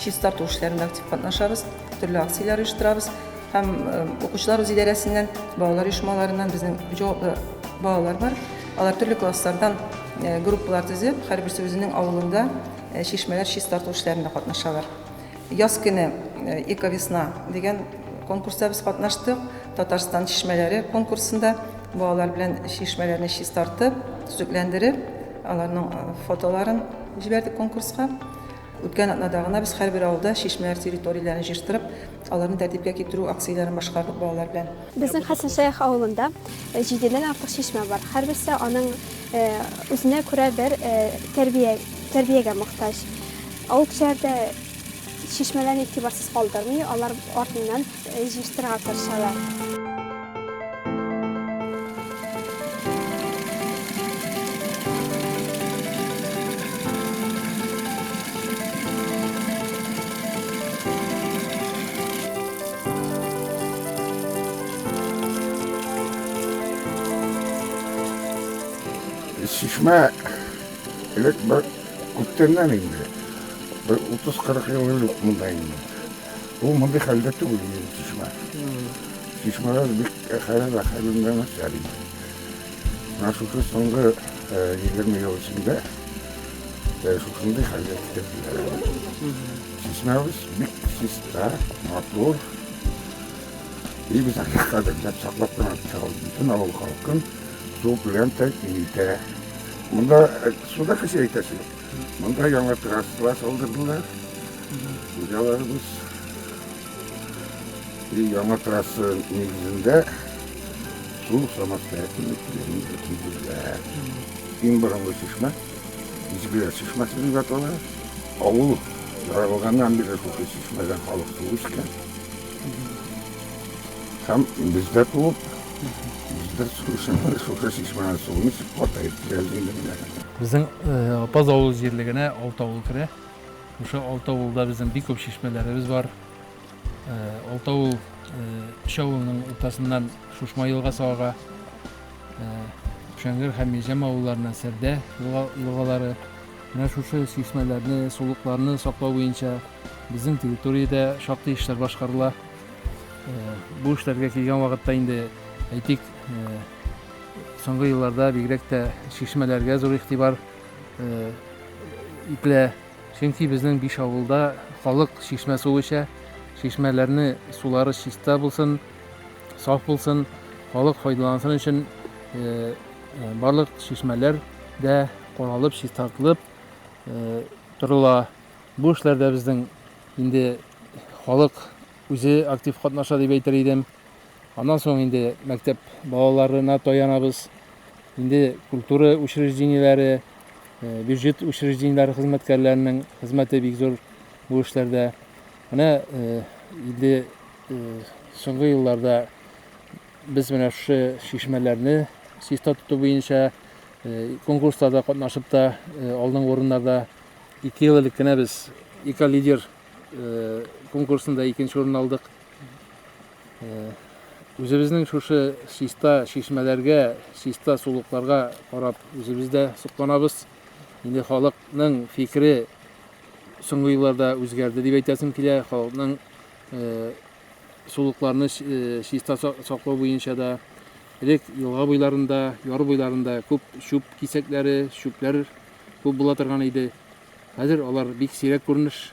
Чистарту эшләрендә актив катнашабыз, төрле акцияләр оештырабыз һәм укучылар үз идарәсеннән, балалар оешмаларыннан безнең җаваплы балалар бар. Алар төрле класслардан группалар төзеп, һәрберсе үзенең авылында чишмәләр чистарту эшләрендә катнашалар. Яз көне Эковесна дигән конкурста без катнаштык. Татарстан чишмәләре конкурсында балалар белән чишмәләрне чистартып, төзекләндереп, аларның фотоларын җибәрдек конкурска. Үткән атнада гына без һәрбер авылда чишмәләр территорияләрен җыештырып, аларны тәртипкә китерү акцияләрен башкардык балалар белән. Безнең Хәсәншәех авылында җидедән артык чишмә бар. Һәрберсе аның үзенә күрә бер тәрбия, тәрбиягә мохтаҗ. Авыл кешеләре дә чишмәләрне игътибарсыз калдырмый, алар артыннан Җыештырырга тырышалар. Чишмә элек бер күптәннән инде. Бер 30-40 ел элек монда инде. Ул мондый хәлдә түгел иде, чишмә. Чишмәләр бик хәләл хәлендә начар иде. Менә шушы соңгы егерме ел эчендә шушындый хәлгә китерделәр әле. Чишмәбез бик чиста, матур. И без аны кадерләп саклап кына торабыз. Бөтен авыл халкын су белән тәэмин итә. Монда суда хәшәр итәсе юк. Монда яңа трассалар салдырдылар. Хуҗаларыбыз и яңа трасса нигезендә су самостоятельно килгәнен әйтүләр. Иң борынгы чишмә Изгеләр чишмәсе дип атала. Авыл яралганнан бирле шушы чишмәдән халык туып үскән. Һәм без дә туып, без дә шушы чишмәнең суын эчеп картаеп киләбез инде менә. Безнең Апаз авылы җирлегенә алты авыл керә. Шушы алты авылда безнең бик күп чишмәләребез бар. Алты авыл өч авылның уртасыннан Шушма елгасы ага. Шәңгер һәм Мижәм авылларына Сәрдә елгалары. Менә шушы чишмәләрне, сулыкларны саклау буенча безнең территориядә шактый эшләр башкарыла. Бу эшләргә килгән вакытта инде әйтик, Соңгы елларда бигрәк тә чишмәләргә зур игътибар ителә. Чөнки безнең биш авылда халык чишмә суы эчә. Чишмәләрне сулары чиста булсын, саф булсын, халык файдалансын өчен барлык чишмәләр дә каралып, чистартылып торыла. Бу эшләрдә безнең инде халык үзе актив катнаша дип әйтер идем. Аннан соң инде мәктәп балаларына таянабыз. Инде культура учреждениеләре, бюджет учреждениеләре хезмәткәрләренең хезмәте бик зур бу эшләрдә. Менә инде соңгы елларда без менә шушы чишмәләрне чиста тоту буенча конкурсларда катнашып та алдынгы урыннарда ике ел элек кенә без эколидер конкурсында икенче урын алдык. Үзебезнең шушы чиста чишмәләргә, чиста сулыкларга карап үзебез дә сокланабыз. Инде халыкның фикере соңгы елларда үзгәрде дип әйтәсем килә. Халыкның сулыкларны чиста саклау буенча да элек елга буйларында, яр буйларында күп чүп кисәкләре, чүпләр күп була торган иде. Хәзер алар бик сирәк күренеш.